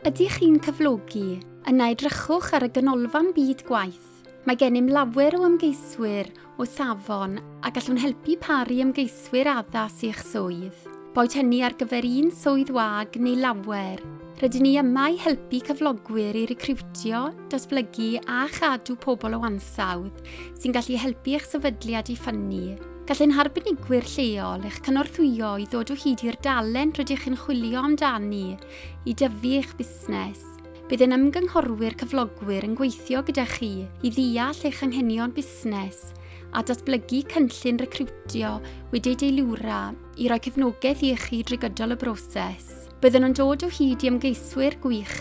Ydych chi'n cyflogi? Yna edrychwch ar y Ganolfan Byd Gwaith. Mae gennym lawer o ymgeiswyr o safon a gallwn helpu pâr i ymgeiswyr addas i'ch swydd. Boed hynny ar gyfer un swydd wag neu lawer, rydyn ni yma i helpu cyflogwyr i recriwtio, datblygu a chadw pobl o ansawdd sy'n gallu helpu eich sefydliad i ffynnu. Gall ein harbenigwyr lleol eich cynorthwyo i ddod o hyd i'r dalent rydych chi'n chwilio amdani i dyfu eich busnes. Bydd ein ymgynghorwyr cyflogwyr yn gweithio gyda chi i ddeall eich anghenion busnes a datblygu cynllun recriwtio wedi'i deilwra i roi cefnogaeth i chi drwy gydol y broses. Byddwn yn dod o hyd i ymgeiswyr gwych,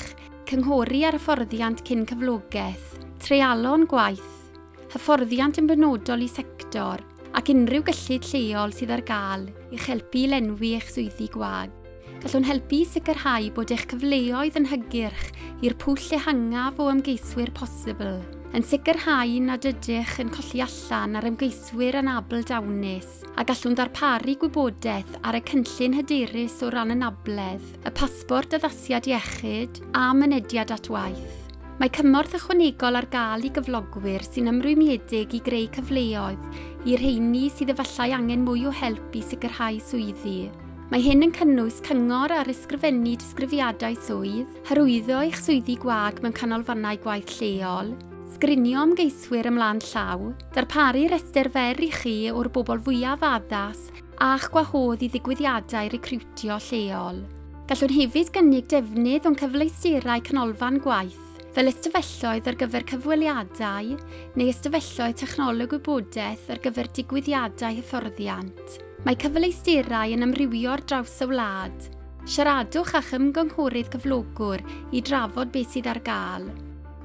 cynghori ar hyfforddiant cyn cyflogaeth, treialon gwaith, hyfforddiant yn benodol i sector ac unrhyw gyllid lleol sydd ar gael i'ch helpu i lenwi eich swyddi gwag. Gallwn helpu i sicrhau bod eich cyfleoedd yn hygyrch i'r pwll ehangaf o ymgeiswyr posibl, yn sicrhau nad ydych yn colli allan ar ymgeiswyr anabl dawnus a gallwn ddarparu gwybodaeth ar y cynllun hyderus o ran anabledd, y pasbort addasiad iechyd a mynediad at waith. Mae cymorth ychwanegol ar gael i gyflogwyr sy'n ymrwymiedig i greu cyfleoedd i rheini sydd efallai angen mwy o help i sicrhau swyddi. Mae hyn yn cynnwys cyngor ar ysgrifennu disgrifiadau swydd, hyrwyddo eich swyddi gwag mewn canolfannau gwaith lleol, sgrinio ymgeiswyr ymlaen llaw, darparu rhestr fer i chi o'r bobl fwyaf addas, a'ch gwahodd i ddigwyddiadau recriwtio lleol. Gallwn hefyd gynnig defnydd o'n cyfleusterau canolfan gwaith, fel ystafelloedd ar gyfer cyfweliadau neu ystafelloedd technoleg wybodaeth ar gyfer digwyddiadau hyfforddiant. Mae cyfleusterau yn amrywio ar draws y wlad. Siaradwch â'ch ymgynghorydd cyflogwr i drafod beth sydd ar gael.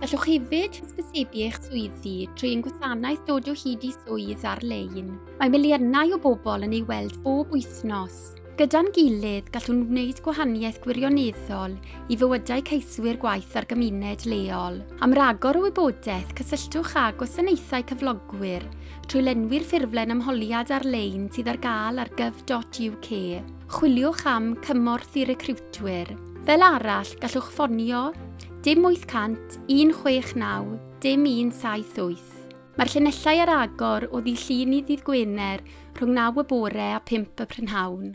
Gallwch hefyd hysbysebu eich swyddi trwy ein gwasanaeth dod o hyd i swydd ar-lein. Mae miliynau o bobl yn ei weld bob wythnos. Gyda'n gilydd, gallwn wneud gwahaniaeth gwirioneddol i fywydau ceiswyr gwaith a'r gymuned leol. Am ragor o wybodaeth, cysylltwch â Gwasanaethau Cyflogwyr trwy lenwi'r ffurflen ymholiad ar-lein sydd ar gael ar gyf.uk. Chwiliwch am Cymorth i Recriwtwyr. Fel arall, gallwch ffonio dim 800 169 dim 178. Mae'r llinellau ar agor o ddydd Llun i ddydd Gwener rhwng naw y bore a phump y prynhawn.